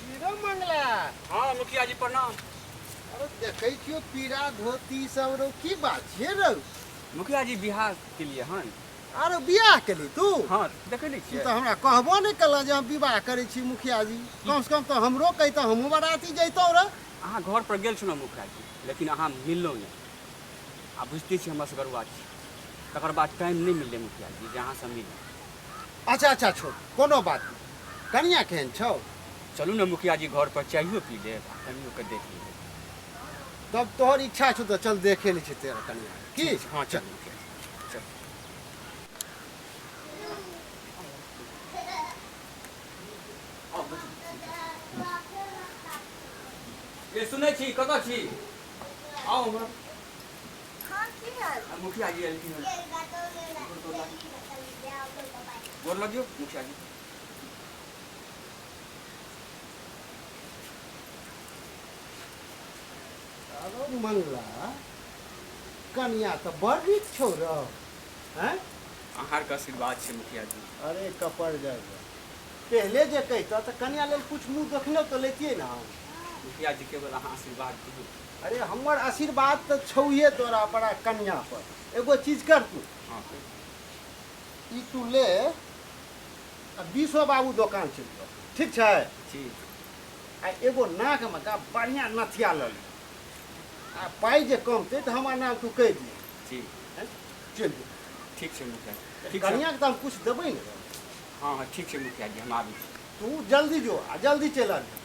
Hero Mangla हाँ मुखिया जी प्रणाम अरे देखै छियो पीरा धोती सब रो की बात छियै रौ मुखिया जी बिहार के लिए हन अरे बियाह केली तू हाँ देखे नहीं तू छियै तऽ हमरा कहबो नहि केलऽ जे हम विवाह करै छी मुखिया जी कम से कम तऽ हमरो कहितऽ हमहूँ बराती जैतौ रह अहाँ घर पर गेल छलहुँ मुखिया जी लेकिन अहाँ मिललहुँ नहीं आ बुझते छी हमरा से गरुआ छी तकर बाद टाइम नहीं मिले मुखिया जी जे अहाँ से मिले अच्छा अच्छा छोड़ कोनो बात नहीं कनिया केहन छौ चलू ने मुखिया जी घर पर चाहिए पी ले कनियो के देख ली तब तोहर इच्छा छौ तो चल देखे ली छी तेरा कनिया की हाँ चल मुखिया जी, चल ये सुनै छी कतऽ छी आउ हमरा मुखिया जी एलखिन हन गोर लगियो मुखिया जी अरे मंगला कन्या तो बड़ नीक छौ रौ हैं अहार के आशीर्वाद छै मुखिया जी अरे कपड़ जाए पहले जे कहता तो कन्या लेल कुछ मुंह देखने तो लेतिए ना हम मुखिया जी केवल अहाँ आशीर्वाद दियौ अरे हमर आशीर्वाद तऽ छौहे तोरा पर आ कन्या पर एगो चीज कर तू हाँ सर ई तू ले आ बीसो बाबू दोकान चलि जाओ ठीक छै जी आ एगो नाकमे का बढ़िआँ नथिया लऽ ले आ पाइ जे कमतै तऽ हमर नाम तू कहि दिहे जी हैं? चलि जो ठीक छै मुखिया जी ठीक छै कनियाँके तऽ हम किछु देबै ने हाँ हाँ ठीक छै मुखिया जी हम आबै छी तू जल्दी जो आ जल्दी चलि आबी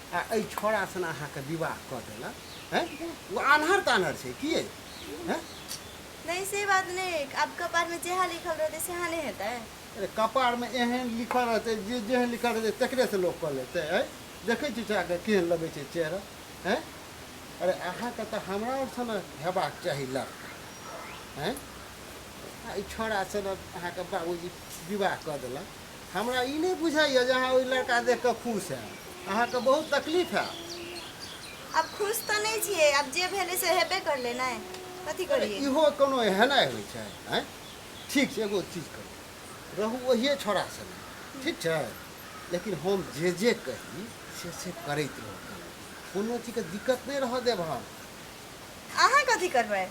आ एहि छोड़ा सन अहाँके विवाह कऽ देलक हैं ओ आन्हर तान्हर छै की अइ? हैं नहीं से बात नहीं है अब कपार में जेहा लिखल रहते सेहा नहीं हेतै अरे कपारमे एहन लिखल रहतै जे जेहन लिखल रहतै तकरेसँ लोक कऽ लेतै अइ देखै छी चोराके केहन लगै छै चेहरा हैं अरे अहाँके तऽ हमरा आओर सन हेबाक चाही लड़का हैं आ ई छोड़ा सन अहाँके बाबूजी विवाह कऽ देलक हमरा ई नहि बुझाइए जे अहाँ ओहि लड़का देख कऽ खुश है अहाँके बहुत तकलीफ है अब खुश तऽ नहि छियै अब जे भेलै से हेबे करलै ने कथी करियै इहो कोनो एहनाइ होइ छै आँय ठीक छै एगो चीज करू रहू ओहिए छोड़ा सङ्गे ठीक छै लेकिन हम जे जे कही से से करैत रहू कोनो चीजके दिक्कत नहि रहऽ देब हम अहाँ कथी करबै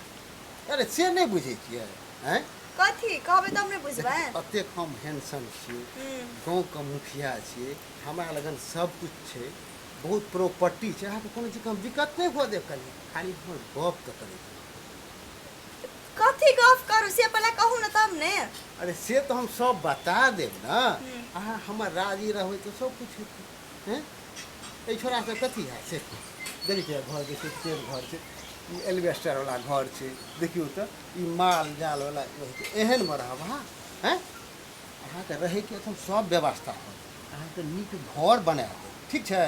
अरे से नहि बुझै छियै हैं कथी कहबै तब ने बुझबै अतेक हम हैंडसम छियै हम्म, गाँवके मुखिया छियै हमरा लगन सब कुछ छै बहुत प्रॉपर्टी छै अहाँके कोनो चीजके हम दिक्कत नहि हुअ देब कनी खाली हमर गप तऽ करै छी। कथी गप करू से पहिले कहू ने तब ने अरे से तऽ हम सब बता देब ने हम्म। अहाँ हमर राजी रहबै तऽ सब कुछ हेतै हँ एहि छोड़ासँ कथी हैत से देखै छियै घर जे छै से घर छै ई एलिवेस्टरवला घर छै देखियौ तऽ ई माल जालवला एहनमे रहब अहाँ हँ अहाँके रहैके एखन सब व्यवस्था होत अहाँके नीक घर बना देब ठीक छै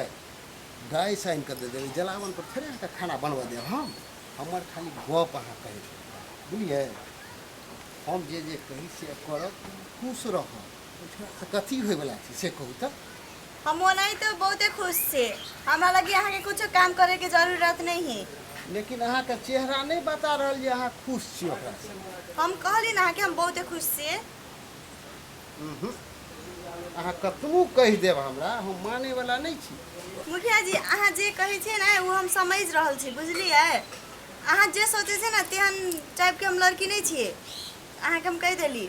गाय साइन कऽ दे देबै जलावन पर थोड़े अहाँके खाना बनबऽ देब हम हमर खाली गप अहाँ कहै बुझलियै हम जे जे कही से करब खुश रहब कथी होय वाला छै से कहू तऽ हम ओनाही तो बहुते खुश छी हमरा लगी अहाँ के कुछो काम करे के जरूरत नहीं है लेकिन अहाँके चेहरा नहि बता रहल जे अहाँ खुश छी ओकरा से हम कहली ना कि हम बहुते खुश छी उहुं। अहाँ कतबो कहि देब हमरा हम माने वाला नहीं छी मुखिया जी अहाँ जे कहै छियै ने ओ हम समझ रहल छी बुझलियै अहाँ जे सोचै छियै ने तेहन टाइपके हम लड़की नहि छियै अहाँके हम कहि देली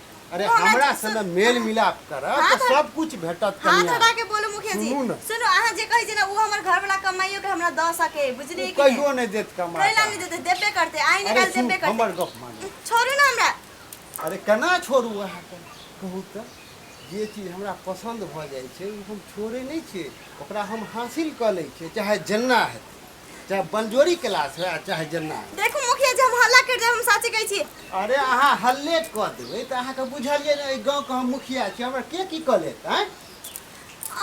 अरे ओ, हमरा अच्छा, संगे मेल मिलाप करब हाँ, तऽ तो- सब कुछ भेटत हाथ कनिया उठा के बोलू मुखिया जी सुनू ने। सुनो अहाँ जे कहै छी ना उ हमर घर वाला कमाइयो के हमरा द सके बुझलियै कि कहियो नहीं? नहि देत कहि कमा लागे देते देबे करते आइ ने अरे काल सुन देबे करते हमर गप मानू छोड़ू ना हमरा अरे केना छोड़ू अहाँके कहू तऽ जे चीज हमरा पसन्द भऽ जाइ छै ओ हम छोड़ै नहि छियै ओकरा हम हासिल कऽ लै छियै चाहे जेना हेतै चाहे बंजोरी क्लास हुए चाहे जेना हुए। देखू मुखिया जी हम हल्ला कर देब हम साचे कहै छी अरे अहाँ हल्ले कऽ देबै तऽ अहाँके बुझलियै ने एहि गाँवके हम मुखिया छी हमरा के की कऽ लेत आँय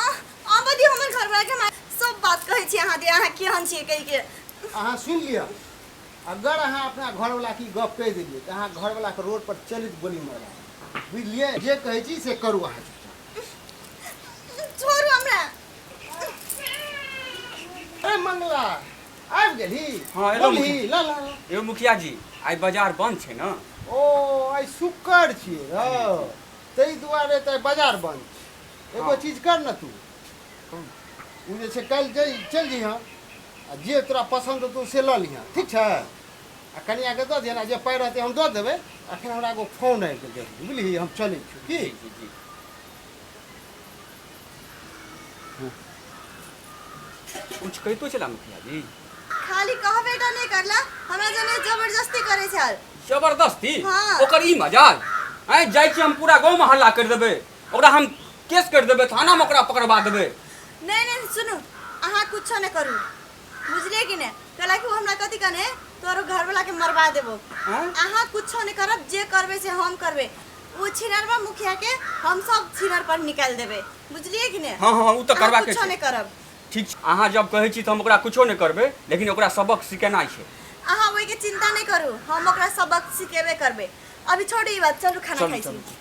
आह, आबऽ दियौ हमर घर के हम सब बात कहै छी अहाँ दे अहाँ केहन छियै कहि के अहाँ सुनि लिअ अगर अहाँ अपना घरवला की गप कहि देलियै तऽ अहाँ घरवलाके रोड पर चलित गोली मारबा देबै। बुझलियै जे कहै छी से करू अहाँ चुपचाप छोड़ू हमरा अरे मंगला आबि गेलही हाँ, एलहुँ बोलही मुखिया। ला ला ला। यौ मुखिया जी आइ बाजार बन्द छै ने ओ आइ शुक्र छियै रौ ताहि दुआरे तऽ आइ बाजार बन्द छै एगो हाँ। चीज कर ने तू ओ जे छै काल्हि जाइ चलि जइहँ आ जे तोरा पसन्द हेतौ से लऽ लिहँ ठीक छै आ कनियाके दऽ दिहन आ जे पाइ रहतै हम दऽ देबै अखन हमरा एगो फोन आबि गेल जरूरी बुझलिही हम चलै छी की जी जी जी कुछ कहितो छला मुखिया जी खाली कहबे टा नहीं करला हमरा जने जबरदस्ती करे छल जबरदस्ती हाँ। ओकर ई मजाल आँय जाइ छी हम पूरा गाँवमे हल्ला करि देबै ओकरा हम केस करि देबै थानामे ओकरा पकड़बा देबै नहीं नहीं सुनू अहाँ कुछो नहीं करू बुझलिए कि नहीं कहला कि वो हमरा कथी कने तोरो घर वाला के मरवा देबो आँय? अहाँ कुछो नहीं करब जे करबे से हम करबे उ छिनरवा मुखिया के हम सब छिनर पर निकाल देबे बुझलिए कि ने हाँ हाँ उ तो करवा के कुछो छै। नहीं करब ठीक छै अहाँ जब कहै छी तऽ हम ओकरा कुछो नहि करबै लेकिन ओकरा सबक सिखेनाइ छै अहाँ ओहि के चिंता नहीं करू हम ओकरा सबक सिखेबे करबे अभी छोड़ी ई बात चलू खाना चलू, खाई चलू। छी